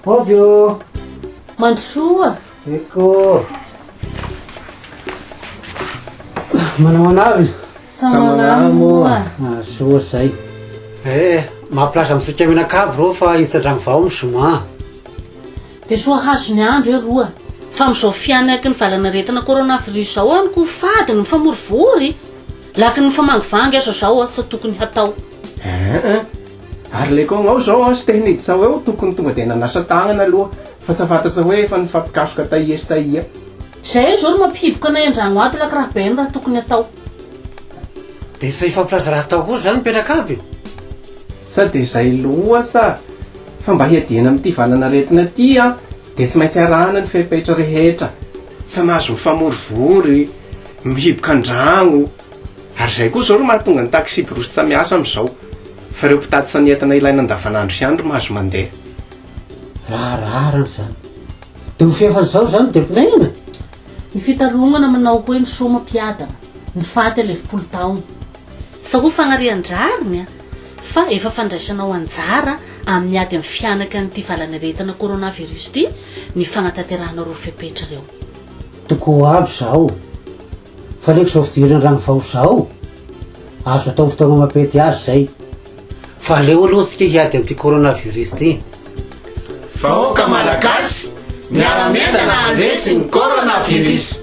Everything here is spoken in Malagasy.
Hody ô! Mandrosoa! Eko! Manao anavy? Samanamo a! Soa zay. Eh, mampilasa amintsika mianakavy reo fa hitsadragny vao ny zoma. Dia soa hahazo ny andro e roa. Fa amin'izao fihanaky ny valanaretina coronavirus izao hono ko fady ny mifamorivory. Laky ny mifamangivanga aza izao asa tokony hatao. Aa, Ary le kôngao zao an, Stehnitz sao eo tokony tonga dia nanasa tagnana aloha fa tsy fantatsa hoe efa nifampikasoka taia sy taia. Zay izao no mampihiboka anay andragno ato laky raha Ben raha tokony atao. Dia tsy hifampilaza raha atao kosa izany ny mpianaka aby e! Sa dia izay loasa fa mba hiadiana amin'ity valan'aretina ity an, dia tsy maintsy arahana ny fepetra rehetra. Tsy mahazo mifamorivory, mihiboka an-dragno. Ary izay koa izao no mahatonga ny taksiborosy tsa miasa amin'izao, fa ireo mpitatsa ny entana ilaina andavanandro ihany ry mahazo mandeha. Raharahana izany. Dia ho fihavan'izao izany dia pinainina? Ny fitarongana manao hoe ny soma mpiadana, ny faty alevim-polo taona. Sa ho fanarian-drariny an? Fa efa fandraisanao anjara amin'ny ady amin'ny fihanaky an'ity valanaretina coronavirus ity ny fanatanterahana ireo fepetra ireo. Toko ho avy izao. Fa aleko zao fidirana rano vaoza ao, azo atao fotoana mampety azy zay. Fa aleo aloha tsika hiady amin'ity coronavirus ty. Vahoaka Malagasy, miara-mientana handresy ny coronavirus.